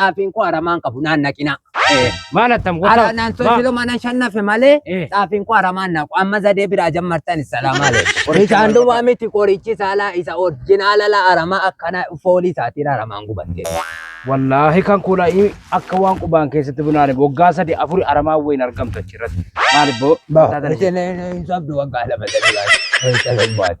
xaafiin koo aramaa hin qabu naan naqinaa. Eh, Maal attam Ara goota? naan sochilo mana shannafe malee Eh. xaafiin koo aramaa hin naqu. Amma zadee biraa jammartan salaamaa lee. Isaan duwwaa miti qorichi saalaa isa orjinaala laa aramaa akkana foolii isaatiin aramaan gubatte. Wallaahi kan kuula i- akka waan qubaan keessatti bunaane waggaa sadi afuri aramaa wayin argamtu achirratti. Maal ibboo? Ba, Taataan ishee. isheen hin sobdu waggaa lama sadii baate. Isheen hin baate.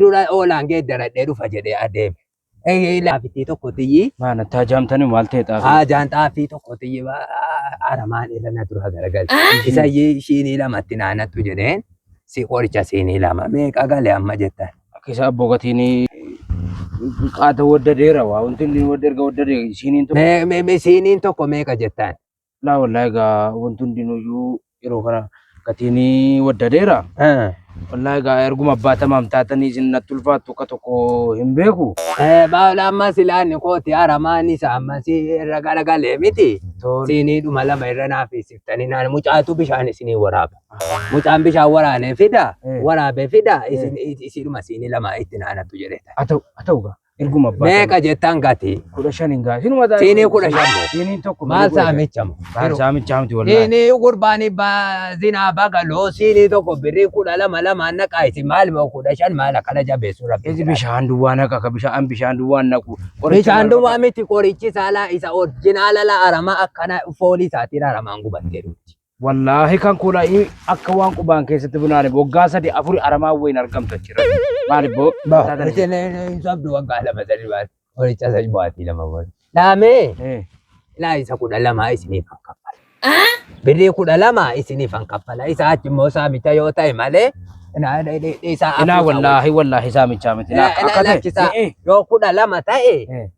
dura oolaan geeddaradhee dhufa jedhee adeeme. Ee, Laafittii tokko tiyyii Maa natti hajaamtanii maal ta'e xaafii? haajaan xaafii tokko tiyyii aramaan irra na dura garagalche. Isa iyyii shiinii lamatti naanattu jedheen si qoricha siinii lama meeqa gale amma jettan. Akkisa abboo gatiin qaata wadda deera waa wanti inni wadda erga wadda deera siiniin tokko. Me- me- me- Siiniin tokko meeqa jettan. Laa wallaahi egaa wanti hundinuyyuu yeroo kana gatiin waddadeera. Eh, Wallaahi egaa erguma abbaa tamaam taatanii isin natti ulfaattu akka tokko hin beeku. eh, baala amma silaanni kooti haramaan isa amma si irra galagalee miti. Tole. Siinii dhuma lama irra naaf isiftanii naan mucaatu bishaan isinii waraaba. Mucaan bishaan waraanee fida, Eh. waraabee fida, isin isiidhuma siinii lama itti naanattu jedheeta. Haa ta'u haa ta'u egaa. Erguma abbaa meeqa sana jettan gatii kudha shan hin gaafin mata siinii kudha shan moo siiniin tokko maal malee kudha shan. saamicha moo Maal saamicha miti wallahi. siinii gurbaanii baazinaa bagaloo siinii tokko birrii kudha lama lamaan naqaa isin maal moo kudha shan maal akkana jabeessu rabbi Ezi bishaan duwwaa naqa ka bishaan bishaan duwwaa naqu. Bishaan duwwaa miti qorichi saalaa isa orjinaala la aramaa akkana foolii isaatiin aramaan gubattee dhufti. Wallaahi kan kula akka waan qubaan keessatti bunaane waggaa sadi afuri aramaa wayin argamtu achirra. Maali boo? Ba, isin hin sobdu waggaa lama sadi baati. Horicha sadi baati lama baati. Laamee, Eh. ilaa isa kudha lama isiniif kan kaffala. Birrii kudha lama isiniif kan kaffala. Isa achi immoo saamicha yoo ta'e malee, na- de- de- de- isaa Ilaa afuusa wallaahi wallaahi saamichaa miti. wajjin. Ilaa Ilaa- akka ilaa ta'e. lakkisaa. Eh, eh. Yoo kudha lama ta'e, Eh.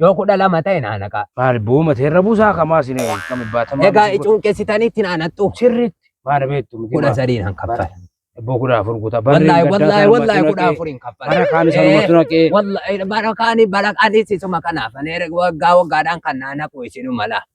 Yoo kudha lama ta'e naa naqaa. Maal booma seerra buusaa kamaa sin kam baatamaa. Egaa icuun keessitanitti naa naqxu. Sirriitti maal beektu miti. Kudha sadiin han kaffala. Ebboo kudha afur guutaa. Wallaahi wallaahi wallaahi kudha afuriin kaffala. Bara kaan isa namatti naqee. Wallaahi bara kaanii bara kaanii sisuma kanaaf. Ani erga waggaa waggaadhaan kan naa naqu isinuma laa.